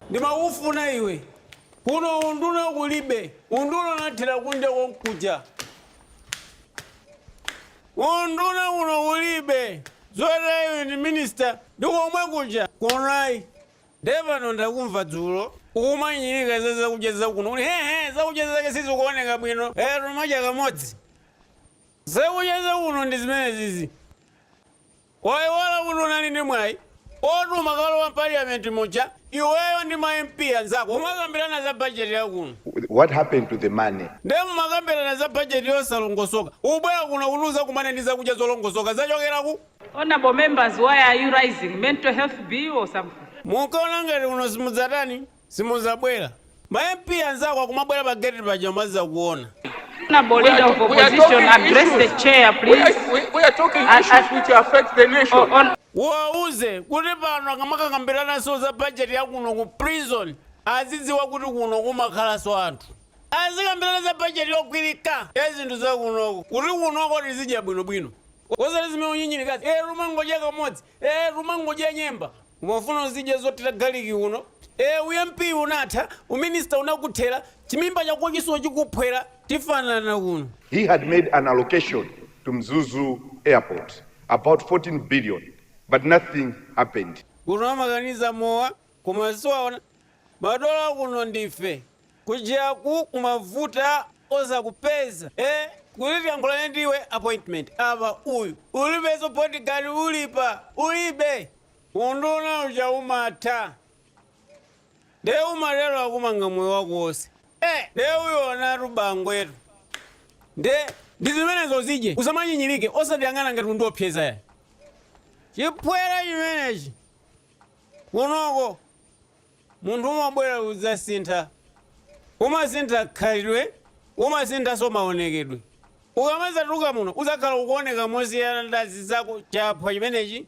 ndimakufuna iwe kuno unduna kulibe unduna unathera kunja konkuja Unduna kuno kulibe zoti ayi uyu ndi minister ndi komwekuja kuno ayi nde pano ndakumva dzulo ukunyinyirika za zakudya zakuno kuti hehe zakudya zake sizikuoneka bwino kaya timadya kamodzi zakudya zakuno ndi zimenezizi. Waiwala kuti unali ndi mwai oti umakalowa m'paliyamenti muja iweyo ndi ma MP anzako kumakambilana za budget ya kuno? What happened to the money? Nde mumakambilana za budget yosalongosoka, ukubwera kuno kuti udzakumane ndi zakudya zolongosoka zachokera kuti? Honourable members why are you rising? Mental health bill or something? Munkaona ngati kuno simudzatani? Simudzabwera. Ma MP anzako akamabwera pa gate paja kudzakuona. Honourable Leader of Opposition, address the Chair please. We are talking issues which affect the nation. Uwauze kuti pano akamakakambiraneso za budget ya kuno ku prison azidziwa kuti kuno kumakhalaso anthu. Azikambirana za budget yogwirika ya zinthu za kunoko kuti kunoko tizidya bwinobwino. Osati zimene ukunyinyirikazi. Eh, timangodya kamodzi. Eh, timangodya nyemba. Umafuna uzidya zothira garlic kuno? Eee u MP unatha, u minister unakuthera, chimimba chakochinso chikuphwera, tifanana kuno. He had made an allocation to Mzuzu airport about 14 billion but nothing happened. Kuno amakaniza mowa koma si waona madola kuno ndife kujaku kumavuta osakupeza ee kuti tiyankhulane ndiwe appointment apa uyu ulibeso bodyguard uli apa ulibe. Unduna uja umatha nde umatero ukumanga moyo wako wose nde uonatu bangwetu nde ndizimenezo uzidya usamanyinyilike osatiyang'ana ngati undiopseza yayi chiphwere chimenechi kunoko munthu umabwera udzasintha umasintha khalidwe umasinthaso maonekedwe ukamadzatuluka muno udzakhala ukuoneka mosiyana ndi anzako chaphwa chimenechi